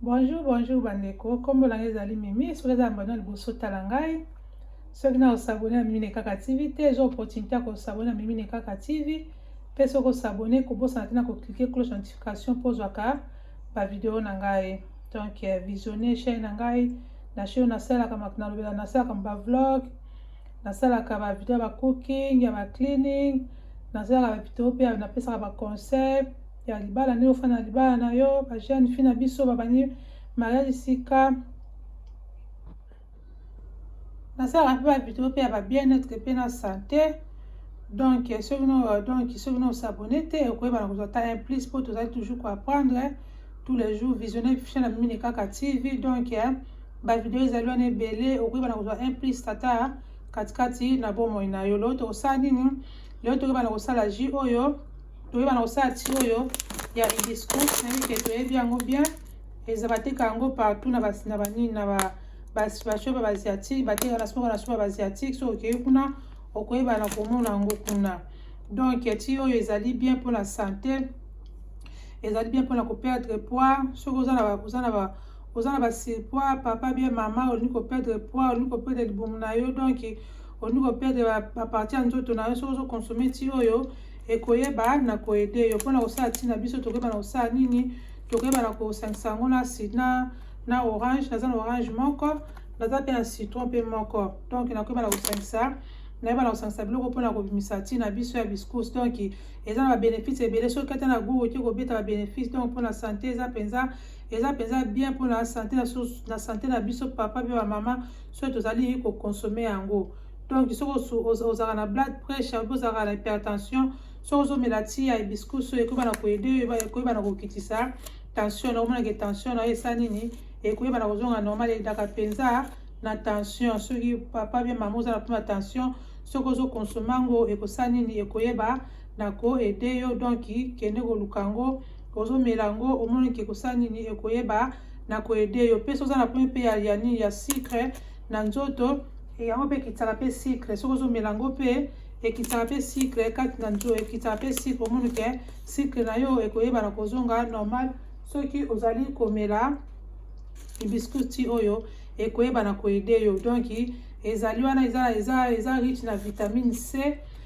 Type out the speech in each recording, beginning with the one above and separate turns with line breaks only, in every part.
bonjour bonjour bandeko nkombo na ngai ezali mimi soki eza mbano liboso tala ngai soki na osabone na mimi ne kaka tv te eza opportunité ya kosabone na mimi ne kaka tv mpe soki osabone kobosana te na koklike cloche notification mpo ozwaka bavideo na ngai donc euh, visionne chaine na ngai na chaine nasalaka nalobela nasalaka bavlog nasalaka ba video ya ba cooking ya ba cleaning nasalaka ba video mpe napesaka ba conseil ya libala ndenge ofanda na libala na yo ba jeune fille na biso babandi mariage sika nasalaka mpe ba video mpe ya ba bien être mpe na sante donc soki no donc soki no osabone te okoyeba na kozwa ta implice mpo tozali toujours koapprendre tous les jours visionne fichana mine kaka tv donc eh, ba video ezali wana ebele okoki bana kozwa un plus tata katikati na bomoi na yo leo tokosala nini leo tokoki bana kosala ji oyo tokoki bana kosala ti oyo ya hibiscus nayebi ke toyebi yango bien eza bateka yango partout na basi na banini na ba bashope baasiatique bateka na soko na soko baasiatique soki okei kuna okoyeba na komona yango kuna donc ti oyo ezali bien mpona sante ezali bien mpona koperdre poids soki oza na oza na ba surpoids papa bien mama olingi ko perdre poids olingi ko perdre libumu na yo donc olingi ko perdre ba partie ya nzoto na yo soki ozo consommer ti oyo ekoyeba na koede yo mpona kosala ti na biso tokoyeba na kosala nini tokoyeba na kosangisa yango na sina na orange naza na orange moko naza mpe na citron mpe moko donc nakoyeba na kosangisa nayeba na kosangisa biloko mpona kobimisa ti na biso ya biscous donc eza na babenefice ebele soki ata na gout oki kobeta babenefice donc mpona sante eza mpenza eza mpenza bien mpo na sante na sante na biso papa mpe bamama soki tozali kokonsome yango donc soki ozalaka na blood pressure mpe ozalaka na hypertension soki ozomela ti ya hibiscus oyo ekoyeba na koyede oyo ekoyeba na kokitisa tension na omonake tension na yo esa nini ekoyeba na kozonga normal edaka mpenza na tension soki papa bia mama oza na mpona tension soki ozokonsoma yango ekosala nini ekoyeba na ko aider yo donc kende koluka yango ozomela yango omoni ke kosala nini ekoyeba na ko aider yo mpe soki oza na problème mpe ya, ya nini ya sucre na nzoto yango mpe ekitisaka mpe sucre soki ozomela yango mpe ekitisaka mpe sucre kati na nzoto ekitisaka mpe sucre omoni ke sucre na yo ekoyeba na kozonga normal soki ozali komela hibiscusi oyo ekoyeba na ko aider yo donc ezali wana eza eza eza riche na vitamine c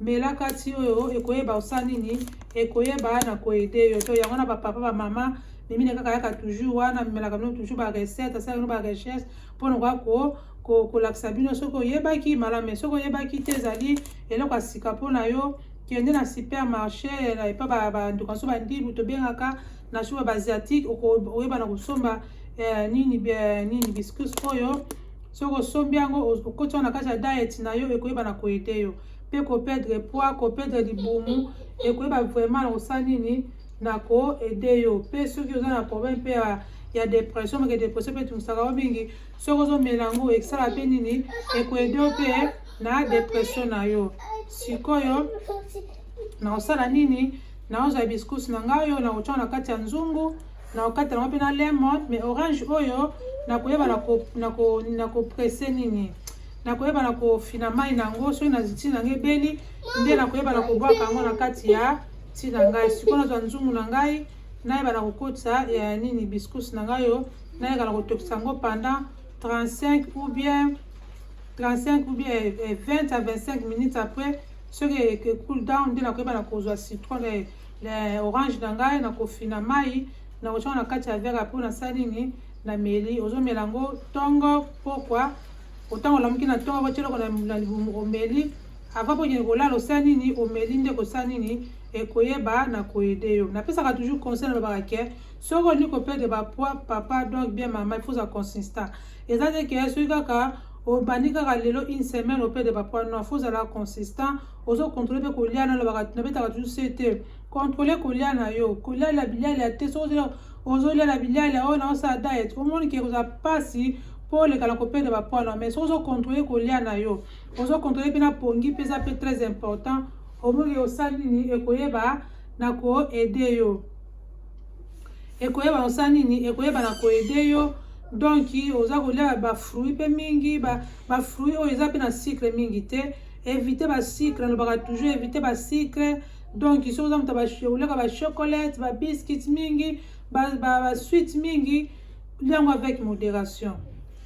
mela kati oyo ekoyeba osala nini ekoyeba na koede yo to yango na bapapa bamama mimine kaka yaka toujours wana mimelaka bino toujours barecette asala bino barecherche mpona koya ko kolakisa bino soki oyebaki malame soki oyebaki te ezali eloko ya sika mpo na yo kende na supermarché na epa banduka so bandibu tobengaka na shuba baasiatique oyeba na kosomba eh, nini eh, nini biscus oyo soki osombi yango okoti wana na kati ya diet na yo ekoyeba na koyede yo mpe kopedre poids kopedre libumu ekoyeba vraiment na kosala nini na koede yo mpe soki oza na problème mpe ya ya depression meke depression mpe etungisaka yo mingi soki ozomela yango ekosala mpe nini ekoede yo mpe na depression na yo sikoyo na kosala nini naozwa biscuits na ngai oyo nakotyaka na kati ya nzungu na kokata yango mpe na lemon mais orange oyo nakoyeba nakopresse nini nakoyeba na kofina mai na yango soki na ntina yango ebeli nde nakoyeba na kobwaka yango na kati ya ntina na ngai sikoyo nazwa nzungu na ngai nayeba na kokotisa ya nini biscus na ngai oyo nayeka na kotokisa yango pendant 35 ou bien 35 ou bien 20 à 25 minutes après soki ecool down nde nakoyeba na kozwa citron le orange na ngai nakofina mai nakotyaka na kati ya verre apo nasali nini na meli ozomela yango ntongo pokwa otango olamuki na ntongo otyeli oko na libumu omeli ava mpo okende kolala osali nini omeli nde kosala nini ekoyeba na koyede yo napesaka toujours conseil na babaka ke soki olingi kopede bapoi papa donc bien mama il faut za consistant eza te ke soki kaka obandi kaka lelo une semaine opede bapoi non faut ozala consistant ozo controle mpe kolia na lobaka nabetaka toujours se te controle kolia na yo kolialia bilialia te soki ozela ozolia na bilialia oyo naosala diet omoni ke kozala mpasi mpo oleka na kopeda bapoids na mais soki ozo controle kolia na yo ozo controle mpe na pongi mpe eza mpe très important omoni ke osali nini ekoyeba na koede yo ekoyeba osala nini ekoyeba na koede yo donk oza kolia bafruit mpe mingi bafruit oyo eza mpe na sucre mingi te Éviter ba sucre, alobaka toujours éviter ba sucre. Donc soki oza moto oleka ba chocolate, ba biscuits mingi, ba, ba, ba sweet mingi, liango avec modération.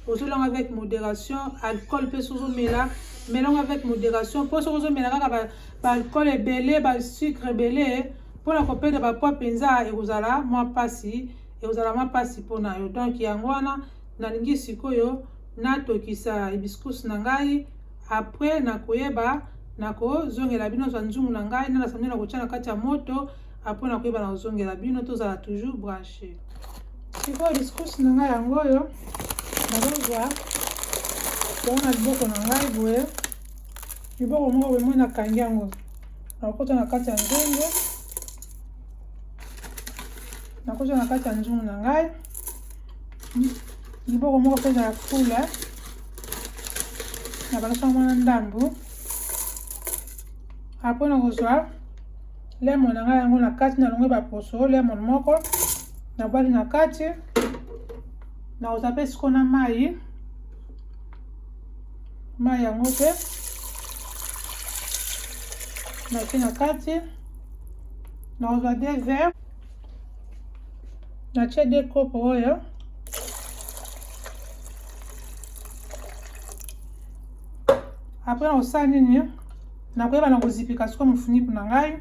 ozolanga avec modération alcool mpe soki ozomela melango avec modération mpo soki ozomela kaka baalcool ba ebele basucre ebele mpo na kopeda bapoids mpenza ekozala mwa mpasi ekozala mwa mpasi mpo na yo donc yango wana nalingi sikoyo natokisa hibiscus na ngai Après na koyeba na kozongela bino zwa nzungu na ngai na nasameli na kotya na kati ya moto apres na koyeba na kozongela bino tozala toujours branche sikoyo discourse na ngai yango oyo nazozwa yango na liboko na ngai boye liboko moko boye moi nakangi yango nakokota na kati ya nzungu nakota na kati ya nzungu na ngai liboko moko mpe ezala fula na balaso yango na ndambo apre na kozwa lemon na ngai yango na kati na longo baposo lemon moko nabwaki na kati na kozwa mpe siko na mai mai yango mpe nati na kati na kozwa de vert natie de kopo oyo apres nakosala nini nakoyeba na kozipika sikoyo mofuniku na ngai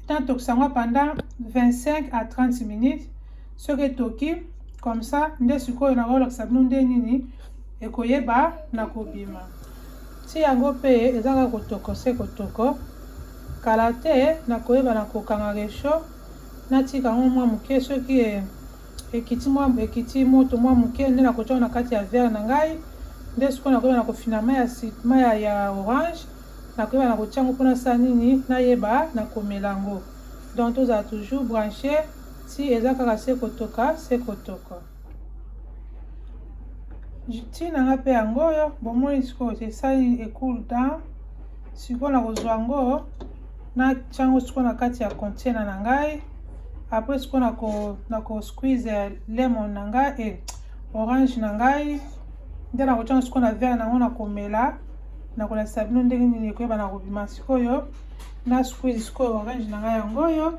natokisa yango pendant 25 à 30 minutes soki etoki comme ça nde sikoyo nakolakisa bino nde nini ekoyeba na kobima Ti yango pe eza kaka kotoko se kotoko. Kala te nakoyeba na kokanga recho natika yango mua muke soki e ekiti mua ekiti moto mua muke nde nakotia yango na kati ya verre na ngai nde sikoyo nakoyeba na kofina mai ya si mai ya, ya orange nakoyeba na kotia yango mpo nasala nini nayeba na komela yango donc tozala toujours branche ti eza kaka se kotoka se kotoko ntina nga mpe yango oyo bomoni sikoyo esali ecool down sikoyo nakozwa yango natyango sikoyo na kati ya container na ngai apres sikoyo nako squeeze lemon na ngai e orange na ngai nde nakotyango sikoyo na vere nango nakomela nakolakisa bino ndenge nini ekoyeba na kobima sikoyo na squeeze sikoyo orange na ngai yango oyo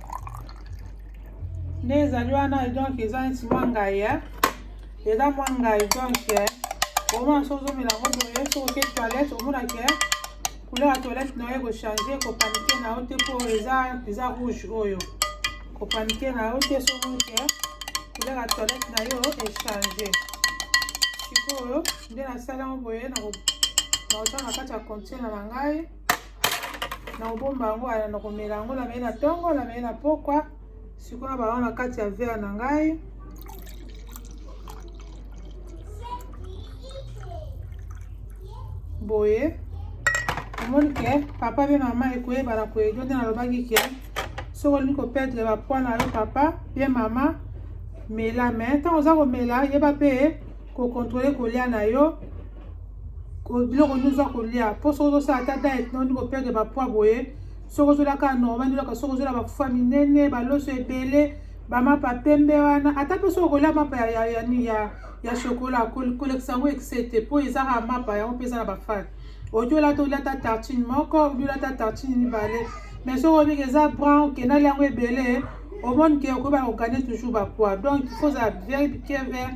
nde ezali wana donc eza neti mwa ngai eh. eza mwa ngai donc eh. omona so ozomela yango boye so oke toilette omona ke eh. couleur ya toilette na yo ekochange kopanike na yo te mpo eza eza rouge oyo kopanike na yo te so omoni ke couleur ya toilette na yo echange sikoyo nde nasala yango boye nakotala na kati ya container na ngai nakobomba yango aya nakomela yango namei na ntongo namei na pokwa sikoyo bango na kati ya vere na ngai boye omoni ke papa mpe mama ekoyebana koyedio nde nalobaki ke soki olingi koperdre bapoi na yo papa mpe mama mela me ntango oza komela yeba mpe kokontrole kolya na yo biloko nini oza kolia mpo soki ozosala ata diet noni koperde bapoi boye soki ozolia kaka normal olaka soki ozolia bafufa minene baloso ebele bamapa pembe wana ata mpe soki okolia mapa ya, ya, ya, ya, ya shokola kolekisa yango excès te mpo ezaka mapa yango mpe eza na bafate oki olia te olia ta tartine moko obi olia ta tartine mibale mais soki obiki eza brown okenda alia yango ebele omoni ke okoyeba kokane toujours bapoi donc il faut ozala very careful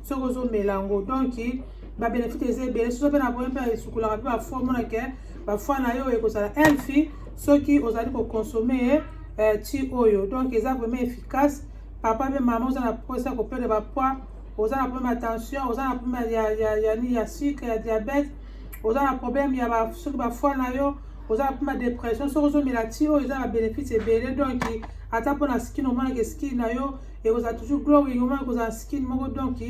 soki ozomela yango donc babenefite eza ebele soso mpe na boye mpe esukolaka mpe bafoi omona ke bafoi na yo ekozala elfi soki ozali kokonsome ye eh, ti oyo donc eza vraiment efficace papa mpe mama oza na mposa ya kopele bapoi oza na problème ya tension oza na problème ya, ya, ya, ya, ya sucre ya diabète oza na problème ya ba, soki bafoi na yo oza na problème ya dépression soki ozomela ti oyo eza na babenefite ebele donc ata mpo na skine omonaka skine na yo ekozala toujours glowing omona ekozala skin moko donc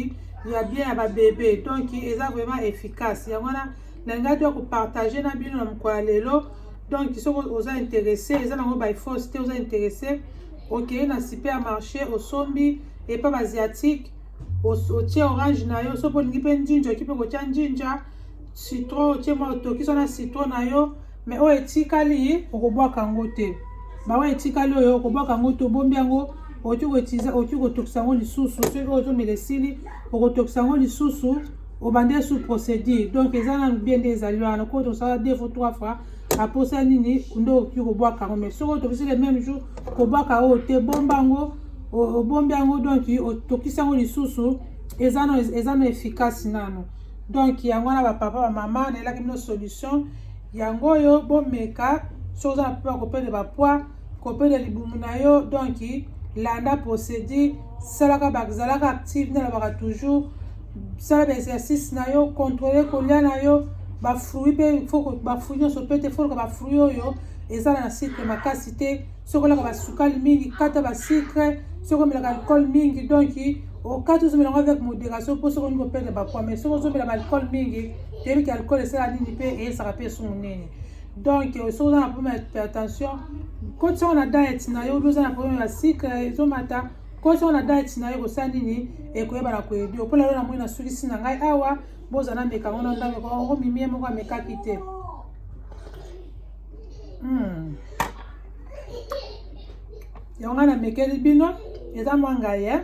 ya bien ya babebe donc eza vraiment efficace yango wana nalingaki to kopartage na bino na mokolo ya lelo donc soki oza interesse eza nango by force te oza interesse okei na supermarché osombi epa baasiatique otie orange na yo soki olingi mpe njinja oki mpe kotya njinja Citron otie mwa otokisa na citron na yo, me oyo etikali okobwaka yango te. Baoyo etikali oyo okobwaka yango te, obombi yango okoki kotiza, okoki kotokisa yango lisusu. Soki oyo ozomela esili, okotokisa yango lisusu obandi sous procédure donc eza nanu bien nde ezali wana koti osala deux fois trois fois aposa nini nde okoki kobwaka yango mais soki otokisi le même jour kobwaka oyo te bomba yango obombi yango donc otokisi yango lisusu eza na efficace nano donc yango wana bapapa bamama nayelaki bino solution yango oyo bomeka soki oza na mpoa kopede bapoids kopede libumu na yo donc landa procédure salaka bazalaka active nalobaka toujours sala baexercice na yo contrôle kolia na yo bafruit mpe bafruit nyonso mpe te foluka bafruit oyo eza na sucre makasi te soki olaka basukali mingi kata basucre soki omelaka alcool mingi donc okati ozomela yango avec modération mpo soki olingi koperdre bapoa mais soki ozomela baalcool mingi toyebi ke alcool esala nini mpe eyesaka mpe esungu nini donc euh, soki oza na problème ya tension kotisa yango na diet na yo obi oza na problème ya sucre ezomata kotisa yango na diet na yo kosala nini ekoyeba na koyedi yo mpo lelo namoni nasukisi na ngai awa bozala meka yango na ndameko omimie moko amekaki te Hmm. yango nga namekeli bino eza mwa ngai e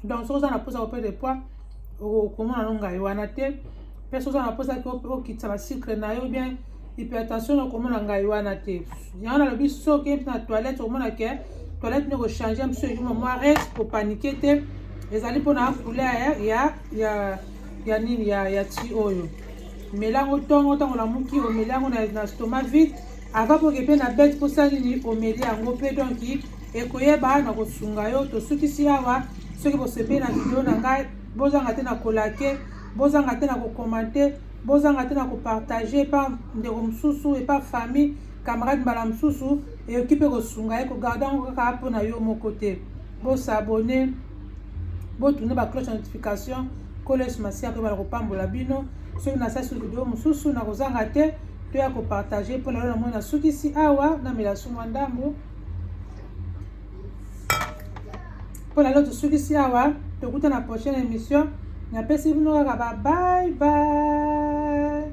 donc soki oza na mposa kopede de poids okomona no ngai wana te mpe soki oza na mposa okitisa basikre na yo bien hypertension okomona ngai wana te yango nalobi soki mpe na toilette okomona ke toilette nde kochange mpe soki ekoma mwa res kopanike te ezali mpona couleur ya ya ya nini ya ya ti oyo mela yango ntongo ntango olamuki omeli yango na, na stoma vide ava poke mpe na bete mposa nini omeli yango mpe donki ekoyeba na kosunga yo tosukisi awa soki bosepeli na video na ngai bozanga te na kolake bozanga te na kokomante bozanga te na kopartage epa ndeko mosusu epa famille camarade mbala mosusu eyoki mpe kosunga ye kogarde yango kaka mpo na yo moko te bosabone botuna ba cloche ya notification nkolo yesu masiya akoyeba na kopambola bino soki nasasi video mosusu nakozanga te to ya kopartage mpo lelo na moi nasukisi awa namela sumwa ndambo mpo lelo tosukisi awa tokuta na prochaine émission napesi bino kaka ba bye bye